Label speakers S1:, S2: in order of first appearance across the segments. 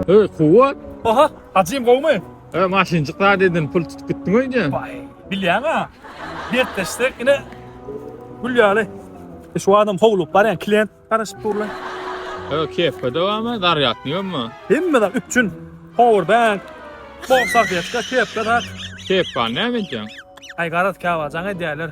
S1: Hey kuwat. Aha,
S2: hacym gowmy? He, maşynjyk zat
S1: edin, pul tutup gitdiň öýde. Baý, bilýäň-a.
S2: Dertleşsek ine gül ýaly. E, şu adam howlugyp barýan klient garaşyp dur lan. He, kepka
S1: dowamy, zarýadnyk hemmi? Hemme zat üpjün.
S2: Powerbank, bok salfetka, kepka zat. Kepkany näme
S1: edýäň? Aý garaz
S2: käwagjaň edýärler.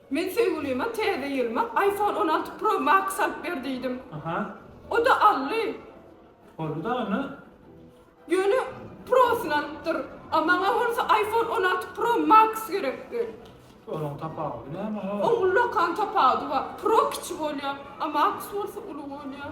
S2: Men söýgülime
S3: täze ýylyma iPhone on alty Pro Max alyp ber diýdim.
S2: O-da aldy.
S3: Boldy dagy
S2: ine. Ýöne
S3: Prosyny alypdyr. A maňa bolsa iPhone on alty Pro Max gerekdi. Olaryň
S2: tapawudy näme? Oň ullakan tapawudy
S3: bar. Pro kiçi bolýar, a Max bolsa uly bolýar.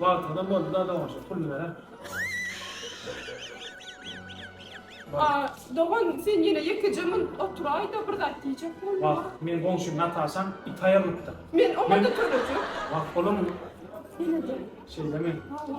S2: Wagtynda boldy-da doganjyk puluny berer.
S3: A, dogan, sen ýene ýekeje munt oturaý-da, bir zat diýjek bolma. Wah, meň goňşym
S2: Nataşam it aýalypdyr. Men oňa-da
S3: tölegek. Wah, bolamyň?
S2: Ýene-de. Şeýlemi?
S3: Hawa.